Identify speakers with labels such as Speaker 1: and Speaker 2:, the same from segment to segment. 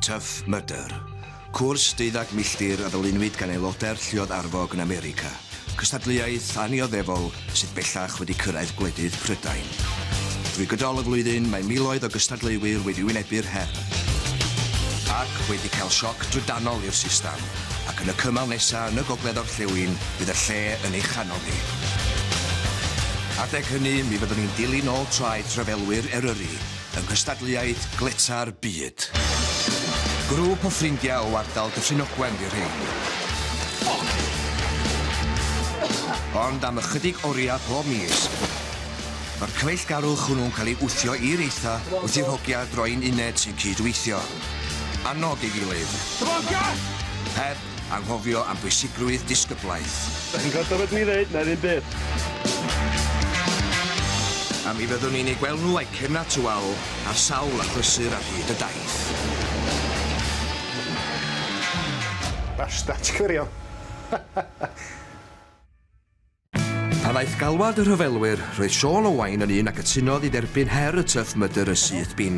Speaker 1: Tough Mudder, cwrs deuddag milltir a ddylunwyd gan aelodau'r Lluoedd Arfog yn America, cystadleuaeth annioddefol sydd bellach wedi cyrraedd gwledydd Prydain. Drwy gydol y flwyddyn mae miloedd o gystadleuwyr wedi wynebu'r her ac wedi cael sioc drydanol i'r system, ac yn y cymal nesaf yn y gogledd-orllewin bydd y lle yn ei chanol ni. Adeg hynny mi fyddwn ni'n dilyn ôl traeth rhyfelwyr Eryri, yng nghystadleuaeth gletâ'r byd. Grŵp o ffrindiau o ardal Dyffryn Ogwen fu rhein. Ond am ychydig oriau pob mis, mae'r cyfeillgarwch hwnnw'n cael ei wthio i'r eitha wrth i'r hogia droi'n uned sy'n cyd-weithio. Annog ei gilydd. Heb Anghofio am bwysigrwydd disgyblaeth. Dach chi'n gwrando beth dwi'n
Speaker 2: ddeud? Na ddim byd.
Speaker 1: A mi fyddwn ni'n eu gweld nhw a'u cefnau tu ôl ar sawl achlysur ar hyd y daith.
Speaker 2: Basta, ti'n cyfeirio?
Speaker 1: Pan ddaeth galwad y rhyfelwyr, roedd Siôn Owain yn un a gytunodd i dderbyn her y Tough Mudder yn syth bin.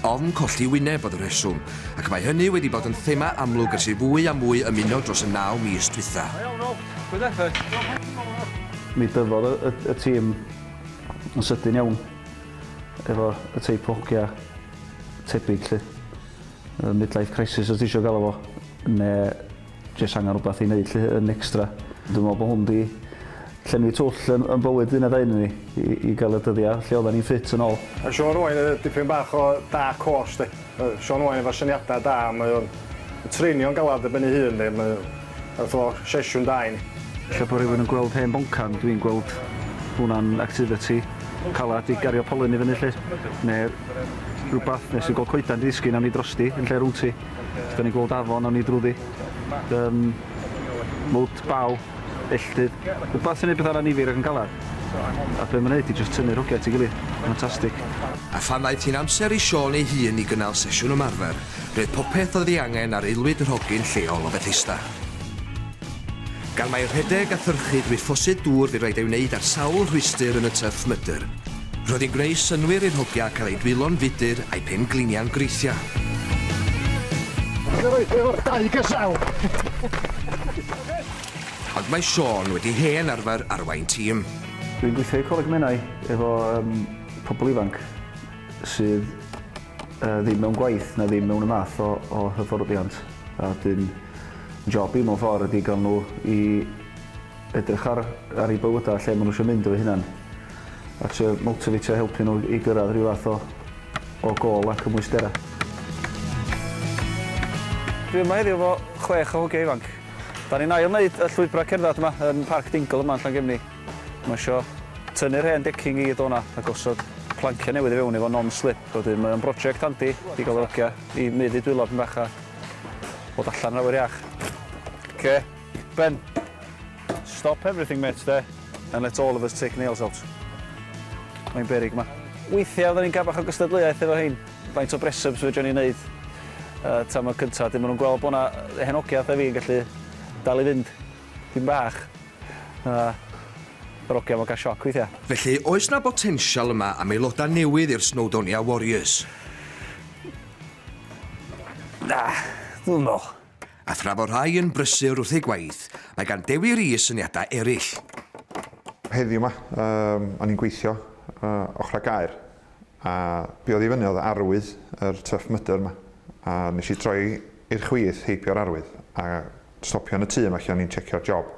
Speaker 1: Ofn colli wyneb oedd y rheswm, ac mae hynny wedi bod yn thema amlwg ers i fwy a mwy ymuno dros y naw mis dwytha.
Speaker 3: Mi dyfodd y y y tîm yn sydyn iawn efo y teip o hogia tebyg 'lly. Yy midlife crisis os ti isio galw fo, ne' Jyst angen rhywbeth i wneud 'lly, yn extra. Dwi'n meddwl bod hwn 'di llenwi twll yn yn bywyd un neu ddau ohonon ni, i i gael y dyddiau lle oeddan ni'n ffit yn ôl. Mae Shaun Owain yn
Speaker 2: dipyn bach o dark horse 'di. Mae Shaun Owain efo syniadau da, mae o'n treinio'n galad ar ben ei hun 'di, mae fath o sesiwn da i ni. Lle bod rhywun yn gweld
Speaker 3: hen boncan, dwi'n gweld hwnna'n activity calad i gario polyn i fyny 'lly, neu rywbeth, neu os ti'n gweld coeden 'di disgyn, awn ni drosti yn lle rownd ti. Da ni'n gweld afon a ni drwyddi. Um, mwt, baw, elltydd. Rhywbeth sy'n ei bethau anifir ac yn galar. A be mae'n neud i just tynnu rhwgau at ei gilydd. Fantastic. A phan ddaeth
Speaker 1: hi'n amser i Siôn ei hun i gynnal sesiwn ymarfer, roedd popeth oedd ei angen ar aelwyd yr hogyn lleol o Fethesda. Gan mai rhedeg a thyrchu drwy ffosydd dŵr bu raid ei wneud ar sawl rhwystr yn y tyrff mydr, roedd hi'n gwneud synnwyr i'r hogia cael eu dwylo'n fudr a'u pen-gliniau'n greithiau.
Speaker 2: Goroesi efo'r dau gesail!
Speaker 1: Ond mae Siôn wedi hen arfer arwain tîm. Dwi'n gweithio i
Speaker 3: Coleg Menai efo pobl ifanc sydd Yy ddim mewn gwaith na ddim mewn y math o o hyfforddiant a dyn job i mewn ffordd ydi gael nhw i edrych ar ar ei bywydau lle maen nhw eisiau mynd efo hunan a trio motifatio helpu nhw i gyrraedd rhyw fath o o gôl a cymwysterau. Dwi yma heddiw efo chwech o hogiau ifanc. Da ni'n ail wneud y llwybrau cerdded yma yn Parc Dingle yma yn Llangefni. Mae isio tynnu'r hen decking i gyd o'na a gosod planciau newydd i fewn efo non-slip a wedyn mae o'n broject handi i gael yr hogia i meddu dwylo pyn bach a bod allan yn awyr iach. Oce, Ben. Stop everything mêt de and let all of us take nails out. Mae'n beryg ma. Weithiau fyddan ni'n cael bach o gystadleuaeth efo rhein, faint o bresups fedrwn ni wneud tan y cyntaf, wedyn maen nhw'n gweld bod 'na hen hogia fatha fi yn gallu dal i fynd. Dipyn bach na yr ogia ma'n cael sioc weithia. Felly oes 'na
Speaker 1: botensial yma am aelodau newydd i'r Snowdonia Warriors?
Speaker 3: Na, dwi'm yn meddwl. A thra fo rhai
Speaker 1: yn brysur wrth eu gwaith, mae gan Dewi Rees syniadau eraill.
Speaker 4: Heddiw 'ma, o'n i'n gweithio ochrau gaer. A biod i fyny oedd arwydd yr tuff mydr yma, a nes i droi i'r chwith heibio'r arwydd, a stopio yn y tŷ yma lle o'n i'n tshecio'r job.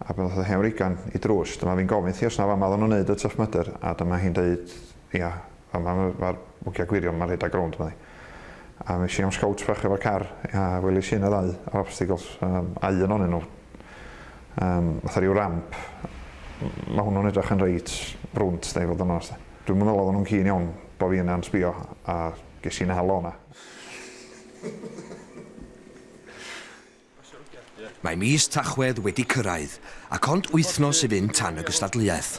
Speaker 4: A pan ddoth y hen wreigan i drws, dyma fi'n gofyn thi os na fama oedden nhw'n neud y tuff mydr, a dyma hi'n deud, ia, fama ma'r wgia gwirion ma'n rhedeg rownd, medda hi. A es i am scowts bach efo car, a welis i yna ddau obstacles, um, a un o'n nhw, um, fatha rhyw ramp. Mae hwnnw'n edrych yn reit brwnt, da i fod yn oes. Dwi'n meddwl oedden nhw'n cyn iawn bod fi yna'n sbio, a ges i'n halo yna.
Speaker 1: Mae mis Tachwedd wedi cyrraedd, ac ond wythnos i fynd tan y gystadleuaeth.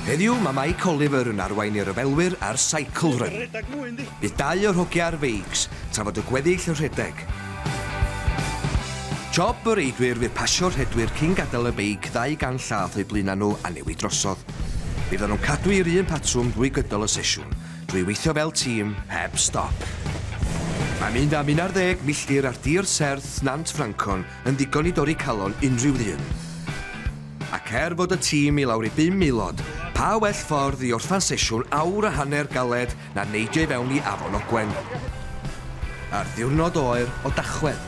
Speaker 1: Heddiw, mae Mike Oliver yn arwain ei ryfelwyr ar Cycle Run. Bydd dau o'r hogia ar feics, tra fod y gweddill yn rhedeg. Job y reidwyr fydd pasio'r rhedwyr cyn gadael y beic ddau gan llath o'u blaenau nhw a newid drosodd. Bydd nhw'n cadw i'r un patrwm drwy gydol y sesiwn, drwy weithio fel tîm heb stop. Mae mynd am 11 milltir ar dir serth Nant Ffrancon yn ddigon i dorri calon unrhyw ddyn. Ac er fod y tîm i lawr i bum aelod, pa well ffordd i orffen sesiwn awr a hanner galed na neidio i fewn i Afon Ogwen ar ddiwrnod oer o Dachwedd?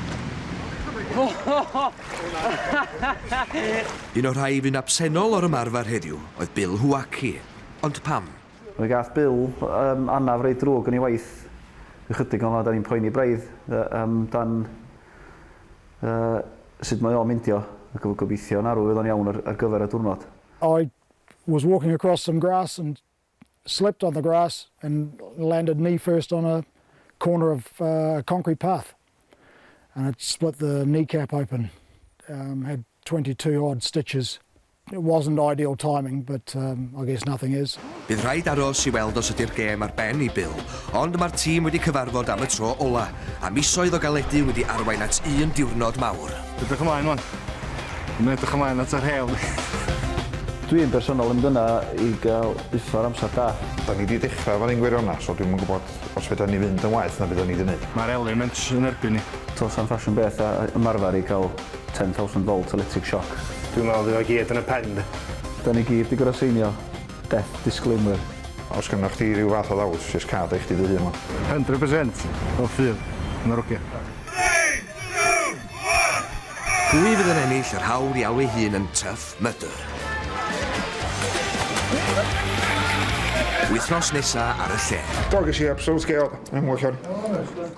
Speaker 1: Un o'r rhai fu'n absennol o'r ymarfer heddiw oedd Bill Huaki. Ond pam? Mi gath Bill
Speaker 3: yym anaf reit ddrwg yn ei waith. Ychydig ohono da ni'n poeni braidd yy am dan yy sud mae o'n meindio ac efo gobeithio yn arw fydd o'n iawn ar ar gyfer y diwrnod. I
Speaker 5: was walking across some grass and. slipped on the grass and landed knee first on a corner of uh, a concrete path and it split the kneecap open. Um, had 22 odd stitches. It wasn't ideal timing, but um, I guess nothing is. Bydd rhaid aros i
Speaker 1: weld os ydy'r gêm ar ben i Bill, ond mae'r tîm wedi cyfarfod am y tro ola, a misoedd o galedu wedi arwain at un diwrnod mawr. Edrych ymlaen wan.
Speaker 2: Dwi'n edrych ymlaen at yr hewl. Dwi
Speaker 3: yn bersonol yn dyna i gael buffer amser da. Da ni di dechra
Speaker 4: fan hyn gwiriona so dwi'm yn gwybod os fedra ni fynd yn waeth na bydda ni di neud. Mae'r element yn
Speaker 2: erbyn ni. T'o sa'n ffasiwn beth
Speaker 3: a ymarfer i cael 10,000 volt electric shock. Dwi'n meddwl fydd o gyd
Speaker 2: yn y pen de. Da ni gyd di
Speaker 3: gor'o seinio death disclaimer. Os gynnoch chdi
Speaker 4: ryw fath o ddawt jyst cad o i chdi dy hun wan. Hundred percent!
Speaker 2: Wel ffydd. Ma'r oce.
Speaker 1: Pwy fydd yn ennill yr hawl i alw'i hun yn Tough Mudder?
Speaker 4: Wythnos
Speaker 1: nesa
Speaker 4: ar y lle. Do, ges i absolute sgêl, yn well wan.